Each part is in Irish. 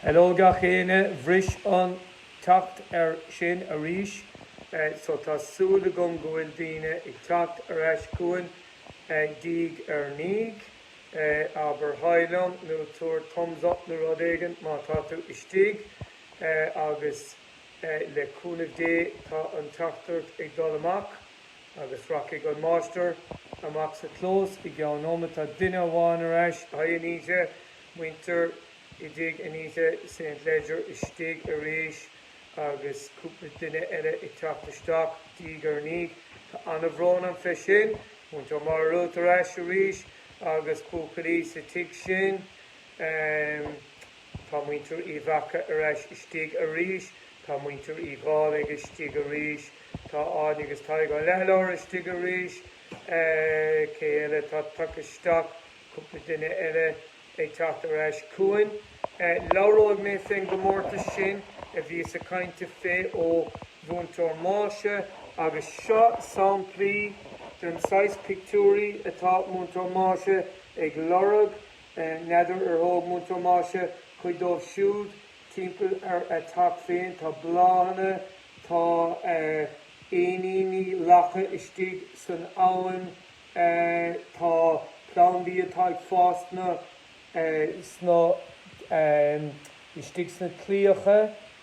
Hello gach éinne, bhris an teachtaireacht sin arís so tá súil agam go bhfuil daoine ag teacht ar ais chugainn diaidh ar ndiaidh. Abair haigh liom nó tabhair thumbs up nó rud éigin má tá tú istigh agus le cúnamh Dé tá an teachtaireacht ag dul amach. Agus rachaidh an máistir amach sa chlós i gceann nóiméid tá duine amháin ar ais haigh Anita, muintir i dtigh Anita St Leger istigh arís agus cúpla duine eile ag teacht isteach diaidh ar ndiaidh. Tá an-bhrón orm fé sin. Muintir Máire Ruth ar ais arís agus buachaillí sa tigh sin. Tá muintir Uí Mhaca ar ais istigh arís. Tá muintir Uí Dhálaigh istigh arís, tá Áine agus Tadhg Ó Leathlobhair istigh arís. Cé eile atá tagtha isteach? Cúpla duine eile ag teacht ar ais chugainn. Labhróidh mé fén gcomórtas sin a bhí sa chaint sa fé ó Mhúinteoir Máise. Agus seo samplaí den saghas pictiúirí atá Múinteoir Máise ag lorg. N'fheadar ar thóg Múinteoir Máise cuid dóibh siúd Timpeall ar a teach féin tá bláthanna, tá éiníní lacha istigh san abhainn, tá plandaí atá ag fás sna, sna istigh sna claíocha,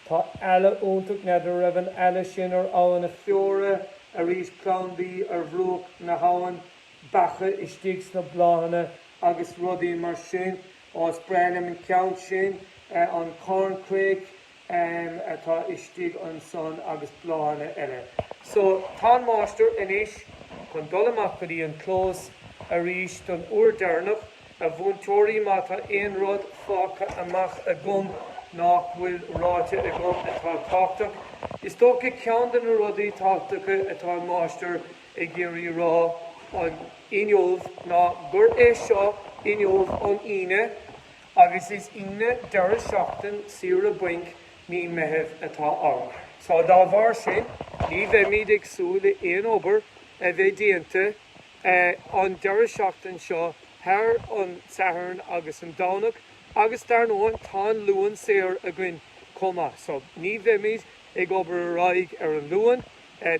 tá eala iontach, n'fheadar a raibh an eala sin ar abhainn na Feoire arís, plandaí ar bhruach na habhann, beacha istigh sna bláthanna agus rudaí mar sin. Is breá liom an ceann sin, an corncrake atá istigh ansan agus bláthanna eile. So, tá an máistir anois chun dul amach go dtí an clós arís don uair deireanach, a mhúinteoirí, má tá aon rud fágtha amach agam nach bhfuil ráite agam atá tábhachtach. Is dócha ceann de na rudaí tábhachtacha atá an máistir ag iarraidh a rá ná inniubh ná gurb é seo inniubh an Aoine agus is Aoine deireadh seachtain saoire bainc mí Meithimh atá ann. Só dá bharr sin ní bheimid ag súil le aon obair a bheith déanta an deireadh seachtain seo thar an Satharn agus an Domhnach agus dar ndóin tá an Luan saor againn chomh maith so ní bheimid ag obair ar aghaidh ar an Luan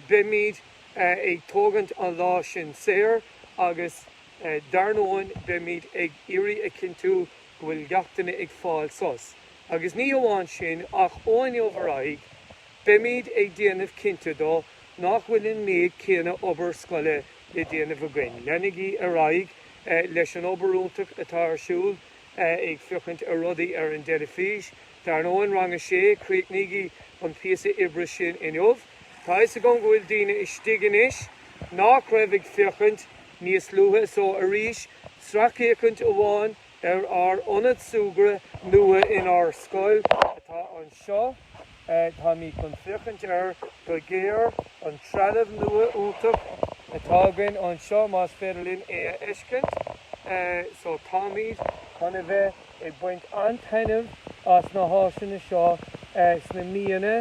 beimid ag tógaint an lá sin saor agus dar ndóigh beimid ag iarraidh a chinntiú go bhfuil gach duine ag fáil sos. Agus ní hamháin sin ach ó inniu ar aghaidh beimid ag déanamh cinnte de nach bhfuil an méid céanna obair scoile le déanamh againn. Leanaigí ar aghaidh leis an obair iontach atá ar siúl ag féachaint ar rudaí ar an dteilifís, Dar ndóigh, Rang 6, críochnaígí an píosa oibre sin inniu. Tá a fhios agam go bhfuil daoine istigh anois nach raibh ag féachaint níos luaithe so arís, sracfhéachaint amháin ar ár Ionad Súgradh nua inár scoil atá anseo. Táimid chun féachaint air go géar, an trealamh nua iontach atá againn anseo, más féidir linn é a fheiscint. So táimid chun a bheith. ag baint an-taitneamh as na háiseanna seo sna míonna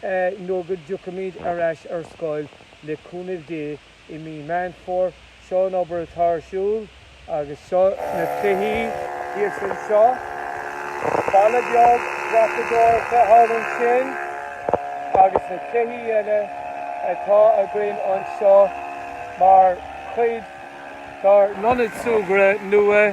nuair go dtiocfaimid ar ais ar scoil, le cúnamh Dé, i mí Meán Fómhair. Seo an obair atá ar siúl agus seo na cluichí. Thíos anseo, balla beag dreapadóireachta thall ansin agus na cluichí eile atá againn anseo mar chuid dár n-ionad súgradh nua.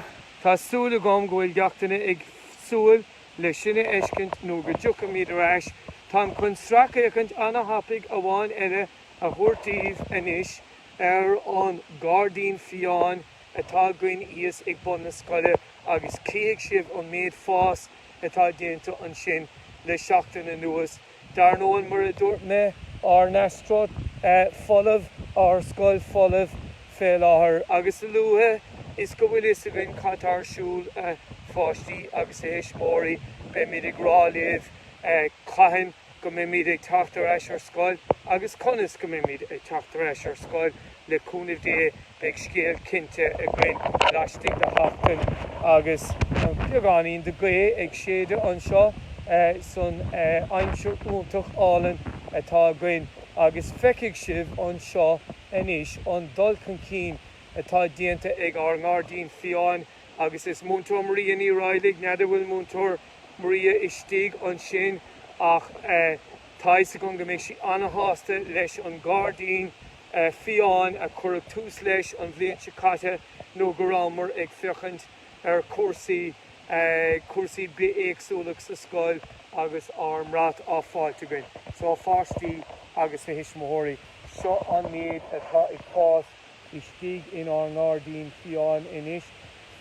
Tá súil agam go bhfuil gach duine ag súil le sin a fheiscint nuair go dtiocfaimid ar ais. Táim chun sracfhéachaint ana-thapaidh amháin eile a thabhairt daoibh anois ar an gairdín fiáin atá againn thíos ag bun na scoile agus chífidh sibh an méid fás atá déanta ansin le seachtain anuas. Dar ndóigh, mar a dúirt mé, ár n-astroturf folamh, ár scoil folamh fé láthair, agus a luaithe is go bhfuil a fhios againn cad tá ar siúl, a pháistí agus a thuismitheoirí, beimid ag rá libh cathain go mbeimid ag teacht ar ais ar scoil agus conas go mbeimid ag teacht ar ais ar scoil, le cúnamh Dé. Beidh scéal cinnte againn laistigh de sheachtain agus beagáinín de ghaoth ag séideadh anseo san aimsir iontach álainn atá againn agus feicfidh sibh anseo anois an dul chun cinn atá déanta ag ár ngairdín fiáin agus Múinteoir Maria Ní Raghailligh, n'fheadar an bhfuil Múinteoir Maria istigh ansin ach tá a fhios agam go mbeidh sí ana-shásta leis an gairdín. fiáin a cuireadh tús leis an bhliain seo caite nuair go rabhamar ag féachaint ar chúrsaí, cúrsaí bithéagsúlacht sa scoil agus ár mbrat á fháilt againn. So a pháistí agus a thuismitheoirí, seo an méid atá ag fás istigh inár ngairdín fiáin anois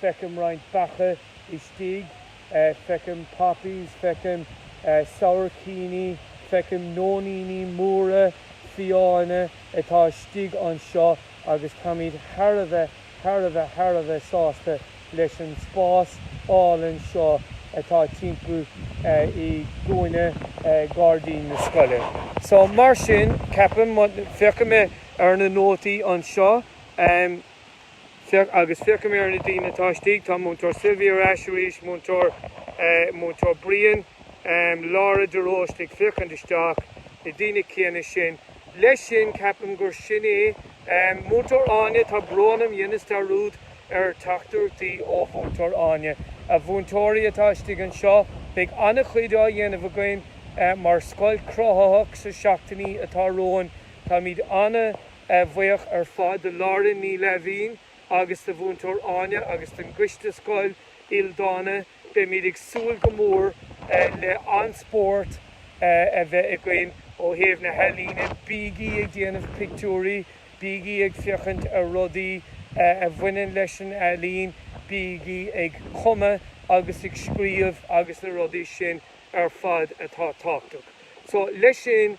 feicim roinnt beacha istigh, feicim poppies, feicim sabhaircíní, feicim nóiníní móra fiáine atá istigh anseo agus táimid thar a bheith, thar a bheith, thar a bheith sásta leis an spás álainn seo atá timpeall i gcúinne gairdín na scoile. So, mar sin, ceapaim, féachfaidh mé ar na nótaí anseo. agus féachfaidh mé ar na daoine atá istigh, tá Múinteoir Sylvia ar ais arís, Múinteoir, Múinteoir Brian, Laura de Róiste ag féachaint isteach, na daoine céanna sin. Leis sin, ceapaim gur sin é. Múinteoir Áine, tá brón orm, dheineas dearúd ar theachtaireachtaí ó Mhúinteoir Áine. A mhúinteoirí atá istigh anseo, beidh an-chuid á dhéanamh againn mar scoil chruthaitheach sna seachtainí atá romhainn. Táimid ana, ana-bhuíoch ar fad do Lauren Ní Laimhín agus do Mhúinteoir Áine agus don gCoiste Scoil Ildána, beimid ag súil go mór le an-spórt a bheith againn ó thaobh na healaíne. Bígí ag déanamh pictiúirí, bígí ag féachaint ar rudaí a bhaineann leis an ealaín, bígí ag cumadh agus ag scríobh agus na rudaí sin ar fad atá tábhachtach. So leis sin,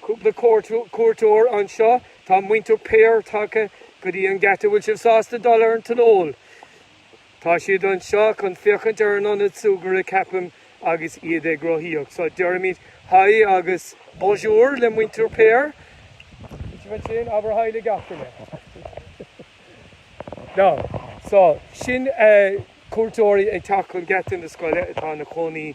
cúpla cuairteoir anseo. Tá muintir Paor tagtha go dtí an geata. Bhfuil sibh sásta dul ar an tionól? Tá siad anseo chun féachaint ar an ionad súgartha, ceapaim, agus iad ag rothaíocht. So deirimid haigh agus bonjour le muintir Paor. Bhfuil sibh ansin? Abair haigh le gach duine. Now, so sin cuairteoirí ag teacht chun geata na scoile atá ina gcónaí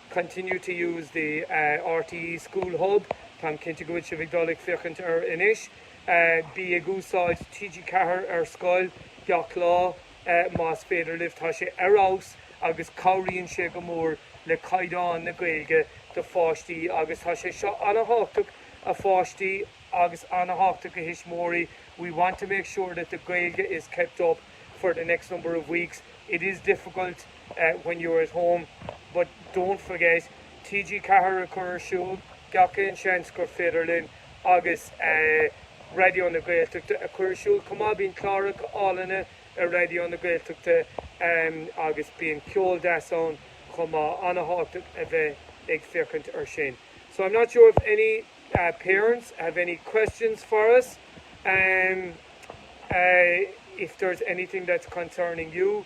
continue to use the RTÉ School Hub táim cinnte go bhfuil sibh ag dul ag féachaint air. Anois bí ag úsáid TG4 ar scoil gach lá más féidir libh, tá sé ar fheabhas agus cabhraíonn sé go mór le caighdeán na Gaeilge do pháistí agus tá sé seo an-thábhachtach a pháistí agus an-thábhachtach a thuismitheoirí we want to make sure that the Gaeilge is kept up for the next number of weeks it is difficult when you're at home but don't forget TG4 a chur ar siúl gach aon seans gur féidir linn agus Raidió na Gaeltachta a chur ar siúl chomh maith. Bíonn cláracha álainne ar Raidió na Gaeltachta agus bíonn ceol deas ann chomh maith. Ana-thábhachtach a bheith ag féachaint air sin. So I'm not sure if any parents have any questions for us. If there's anything that's concerning you.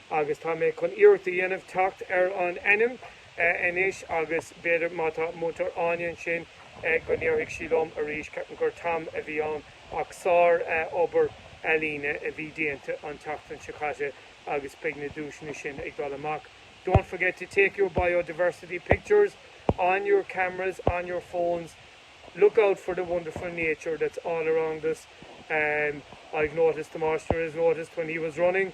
agus tá mé chun iarracht a dhéanamh teacht ar an ainm anois agus b'fhéidir má tá Múinteoir Áine ansin go ndéarfaidh sí liom arís. Ceapaim gur Tom a bhí ann ach sárobair ealaíne a bhí déanta an tseachtain seo caite agus beidh na duaiseanna sin ag dul amach. Don't forget to take your biodiversity pictures on your cameras on your phones. Look out for the wonderful nature that's all around us. I've noticed, the master has noticed when he was running,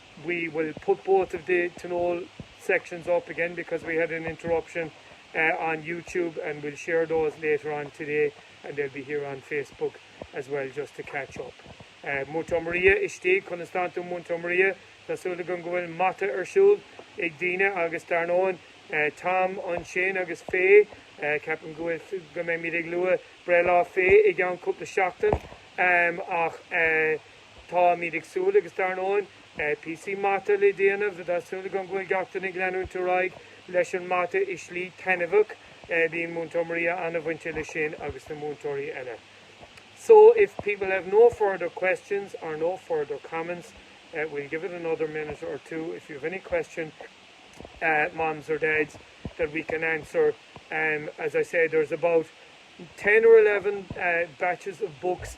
we will put both of the Tionól sections up again because we had an interruption on YouTube and we'll share those later on today and they'll be here on Facebook as well just to catch up. Múinteoir Maria istigh, conas tánn tú Múinteoir Maria? Tá súil agam go bhfuil mata ar siúl ag daoine agus dar ndóigh Tom ansin agus Faye, ceapaim go bhfuil, go mbeimid ag lua breithlá Faye i gceann cúpla seachtain ach Táimid ag súil, agus dar ndóigh, píosaí mata le déanamh, tá súil agam go bhfuil gach duine ag leanúint ar aghaidh leis an mata i slí taitneamhach, bíonn Múinteoir Maria an-bhainte leis sin agus na múinteoirí eile. So, if people have no further questions or no further comments, we'll give it another minute or two, if you have any question, mams or dads, that we can answer, as I said, there's about ten or eleven batches of books,